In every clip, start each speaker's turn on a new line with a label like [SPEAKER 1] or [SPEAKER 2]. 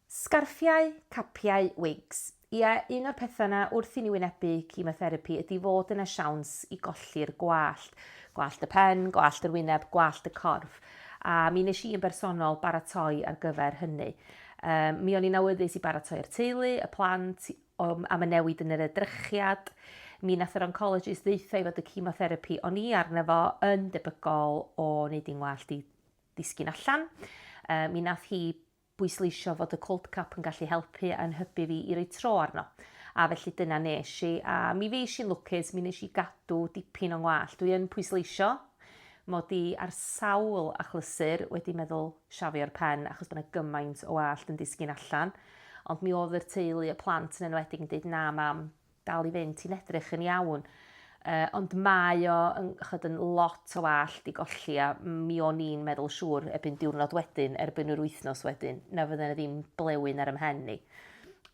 [SPEAKER 1] Sgarffiau, capiau, wigs. Ie, un o'r pethau 'na wrth i ni wynebu chemotherapi ydi fod yna siawns i golli'r gwallt. Gwallt y pen, gwallt yr wyneb, gwallt y corff. A mi nes i yn bersonol baratoi ar gyfer hynny. Um, mi o'n i'n awyddus i baratoi'r teulu, y plant, am y newid yn yr edrychiad. Mi nath yr oncologist ddeitha i fod y chemotherapi o'n i arno fo yn debygol o wneud i'n ngwallt i disgyn allan. Yy, mi nath hi bwysleisio fod y cold cap yn gallu helpu a'n hybu fi i roi tro arno. A felly dyna nes i, a mi fuesh i'n lwcus, mi nes i gadw dipyn o'n ngwallt. Dwi yn pwysleisio mod i ar sawl achlysur wedi meddwl siafio'r pen achos bod 'na gymaint o wallt yn disgyn allan, ond mi oedd yr teulu, y plant yn enwedig yn deud 'na mam, dal i fynd, ti'n edrych yn iawn. Uh, ond mae o yn, chod, yn lot o wallt i golli a mi o'n i'n meddwl siŵr erbyn diwrnod wedyn, erbyn yr wythnos wedyn, na fydden ddim blewyn ar ymhen ni.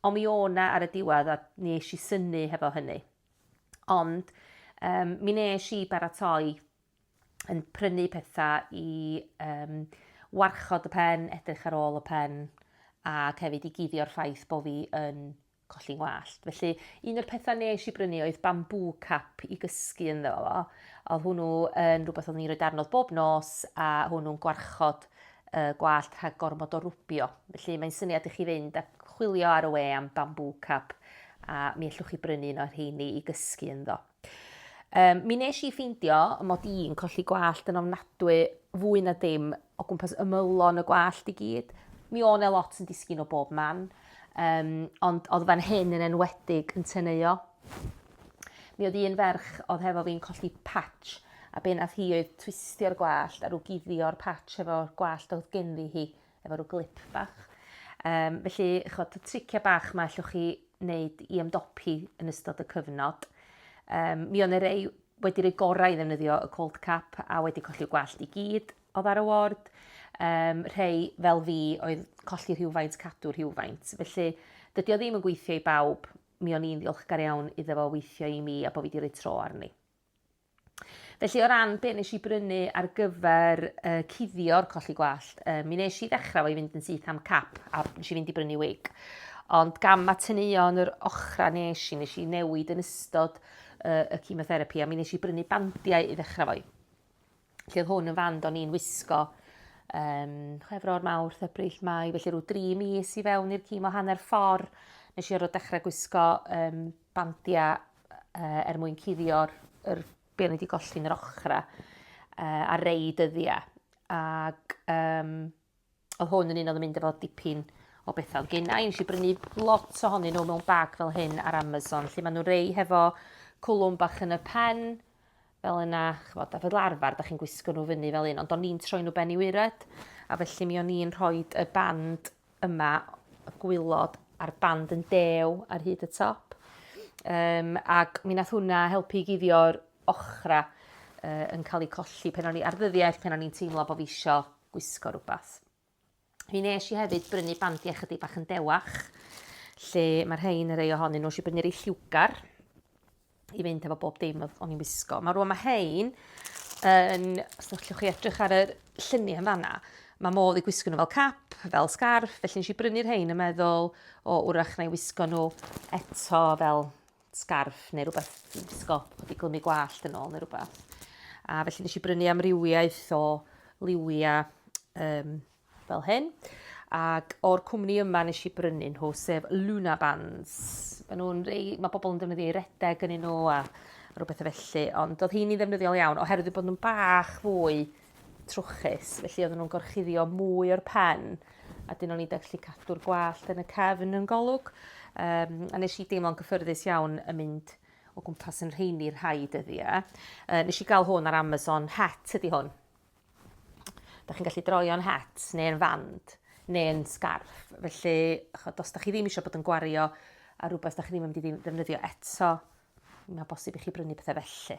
[SPEAKER 1] Ond mi o'na ar y diwedd a ni eisiau i syni hefo hynny. Ond um, mi nes i baratoi yn prynu pethau i um, warchod y pen, edrych ar ôl y pen, a hefyd i guddio'r ffaith bod fi yn colli 'ngwallt. Felly, un o'r pethau nes i brynu oedd bambŵ cap i gysgu ynddo fo. Oedd hwnnw yn rhywbeth oedd ni'n rhoi darnodd bob nos a hwnnw'n gwarchod y gwallt rhag gormod o rwbio. Felly mae'n syniad i chi fynd a chwilio ar y we am bambŵ cap a mi allwch chi brynu un o'r rheini i gysgu ynddo. Um, mi nes i ffeindio mod i'n colli gwallt yn ofnadwy fwy na dim o gwmpas ymylon y gwallt i gyd. Mi o'n e lot yn disgyn o bob man, um, ond oedd fan hyn yn enwedig yn teneuo. Mi oedd un ferch oedd hefo fi'n colli patch a be nath hi oedd twistio'r gwallt a rhyw guddio'r patch efo gwallt oedd genddi hi efo rhyw glip bach. Um, felly, chod, y tricia bach mae allwch chi wneud i ymdopi yn ystod y cyfnod. Um, mi o'n rei wedi rhoi gorau i ddefnyddio y cold cap a wedi colli'r gwallt i gyd o ddar y ward. Um, rhei fel fi oedd colli rhywfaint, cadw rhywfaint. Felly, dydy o ddim yn gweithio i bawb. Mi o'n i'n ddiolchgar iawn iddo fo weithio i mi a bod fi wedi rhoi tro arni. Felly o ran be nes i brynu ar gyfer uh, cuddio'r colli gwallt, uh, mi nes i ddechrau fo i fynd yn syth am cap a nes i fynd i brynu wig. Ond gam a teneuon yr ochra nes i, nes i newid yn ystod uh, y chemotherapy a mi nes i brynu bandiau i ddechrau fo i. Felly oedd hwn yn fand o'n i'n wisgo um, chwefro'r mawrth, ebrill, mai, felly rhyw dri mis i fewn i'r cimo hanner ffordd nes i orfod dechrau gwisgo um, bandia yy er mwyn cuddio'r yr be' o'n i 'di golli yn yr ochra yy ar rei dyddia. Ag um, oedd hwn yn un oedd yn mynd efo dipyn o bethau oedd gennau. Nes i brynu lot ohonyn nhw mewn bag fel hyn ar Amazon, lle maen nhw rei hefo cwlwm bach yn y pen, fel yna, ch'mod, a fel arfar 'dach chi'n gwisgo nhw fyny fel un ond o'n i'n troi nhw ben i waered a felly mi o'n i'n rhoid y band yma, y gwylod a'r band yn dew ar hyd y top. Um, ac mi nath hwnna helpu i guddio'r ochra uh, yn cael eu colli pen o'n i ar ddyddiau pen o'n i'n teimlo bod fi isio gwisgo rhywbeth. Mi nes i hefyd brynu bandi ychydig bach yn dewach, lle mae'r rhain yn rei ohonyn nhw. Nes i brynu rei lliwgar i fynd efo bob dim o'n i'n wisgo. Mae rwan mae rhain, yn, os ydych chi edrych ar y lluniau yn fanna, mae modd i gwisgo nhw fel cap, fel scarf, felly nes i brynu'r rhain yn meddwl, o, wrach na i wisgo nhw eto fel sgarff neu rhywbeth dwi'n gwisgo bod i glymu gwallt yn ôl neu rhywbeth. A felly nes i brynu amrywiaeth o liwia um, fel hyn. Ac o'r cwmni yma nes i brynu nhw, sef Luna Bands. Mae nhw'n rei, mae bobl yn defnyddio i redeg yn nhw a rhywbeth o felly, ond oedd hi'n ei ddefnyddiol iawn, oherwydd bod nhw'n bach fwy trwchus, felly oedden nhw'n gorchuddio mwy o'r pen, a dyn o'n i'n gallu cadw'r gwallt yn y cefn yn golwg. Um, a nes i deimlo'n gyffyrddus iawn yn mynd o gwmpas yn rheini rhai dyddiau. Uh, nes i gael hwn ar Amazon, het ydy hwn. Da chi'n gallu droio'n het neu'n fand neu'n sgarff. Felly, chod, os da chi ddim eisiau bod yn gwario a rhywbeth da chi ddim yn mynd i ddefnyddio eto, mae'n bosib i chi brynu pethau felly.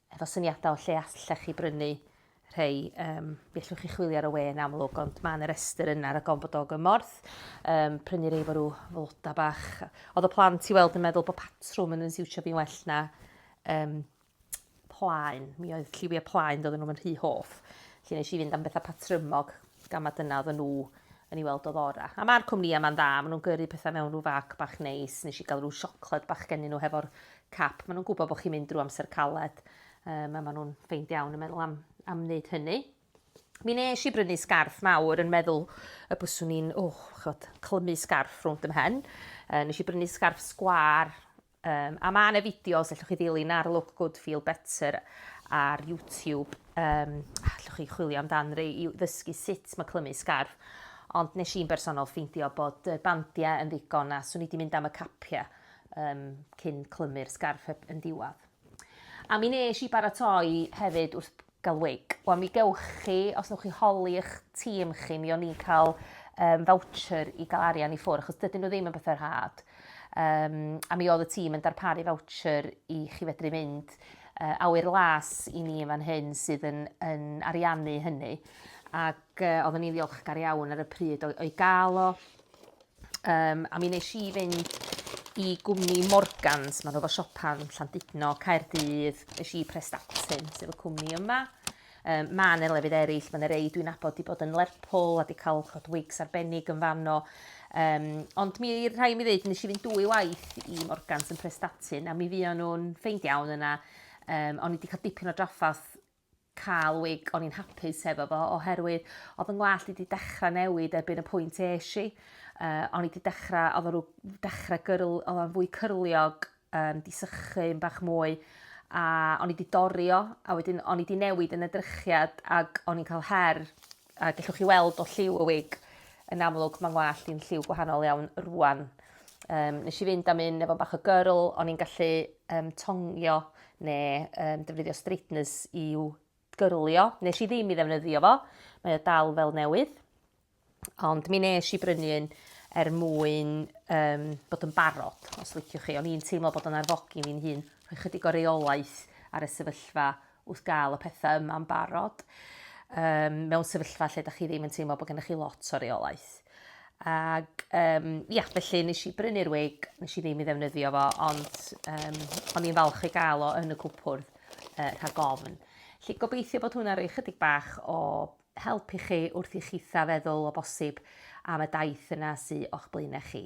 [SPEAKER 1] efo syniadau o lle allech chi brynu rhei. Um, mi allwch chi chwilio ar y we yn amlwg, ond mae yna restr yna rhag ond bod o gymorth. Um, prynu rhai fo rhyw floda bach. Oedd y plant i weld yn meddwl bod patrwm yn yn siwtio fi'n well na um, plaen. Mi oedd lliwiau plaen doedden nhw'n rhy hoff. Felly nes i fynd am bethau patrymog. Gan ma dyna odda nhw yn ei weld oedd ora. A ma'r cwmnïa ma'n dda, ma nhw'n gyrru petha mewn rhyw fag bach neis, nes i ga'l rhyw siocled bach gennyn nhw hefo'r cap, ma nhw'n gwbo bo chi'n mynd drw amser caled, um, a ma nhw'n ffeind iawn yn meddwl am, am wneud hynny. Mi nes i brynu sgarff mawr yn meddwl y byswn i'n, oh, chod, clymu sgarff rhwnd ymhen. Uh, nes i brynu sgarff sgwar Yym, a mae yna fideos, allwch chi ddilyn ar Look Good Feel Better ar YouTube. Yym, allwch chi chwilio amdan rei i ddysgu sut mae clymu sgarf. Ond nes i'n bersonol ffeindio bod y bandiau yn ddigon a swn i wedi mynd am y capiau um, cyn clymu'r sgarf yn diwadd. A mi nes i baratoi hefyd wrth Galwig. Wel mi gewch chi, os newch chi holi eich tîm chi, mi o'n ni'n cael um, voucher i gael arian i ffwrdd, achos dydyn nhw ddim yn bethau rhad. Um, a mi oedd y tîm yn darparu voucher i chi fedru mynd uh, awyr las i ni yn fan hyn sydd yn, yn ariannu hynny. Ac uh, oeddwn ni'n ddiolchgar iawn ar y pryd o'i gael o. Um, a mi nes i fynd i gwmni Morgans, maen nhw fo siopan Llandudno, Caerdydd, nes i Prestatyn, sef y cwmni yma. Um, mae yna lefydd eraill, mae yna rei dwi'n abod i bod yn Lerpwl a di cael chod wigs arbennig yn fanno. Um, ond mi rhai mi ddweud, nes i fynd dwy waith i Morgans yn Prestatyn a mi fi o'n nhw'n ffeind iawn yna. Um, o'n i wedi cael dipyn o draffath cael wig o'n i'n hapus hefo fo oherwydd oedd yn ngwallt i 'di dechra newid erbyn y pwynt esh i yy o'n i 'di dechra oedd o rw dechra gyrl oedd o'n fwy cyrliog yym 'di sychu yn bach mwy a o'n i 'di dorri o a wedyn o'n i 'di newid yn y drychiad ag o'n i'n ca'l her A gellwch chi weld o lliw y wig, yn amlwg mae ngwallt i'n lliw gwahanol iawn rwan. Um, nes i fynd am un efo bach o gyrl, o'n i'n gallu um, tongio neu um, defnyddio straighteners i'w gyrlio. Nes i ddim i ddefnyddio fo, mae o dal fel newydd. Ond mi nes i brynu un er mwyn um, bod yn barod, os liciwch chi. O'n i'n teimlo bod o'n arfogi mi'n hun, rhoi chydig o reolaeth ar y sefyllfa wrth gael y pethau yma'n barod, um, mewn sefyllfa lle da chi ddim yn teimlo bod gennych chi lot o reolaeth. Ac, um, ia, felly nes i brynu'r wig, nes i ddim i ddefnyddio fo, ond um, o'n i'n falch i gael o yn y cwpwrdd uh, rhag ofn. Felly gobeithio bod hwnna roi chydig bach o help i chi wrth i chitha feddwl o bosib am y daith yna sy'n o'ch blaenau chi.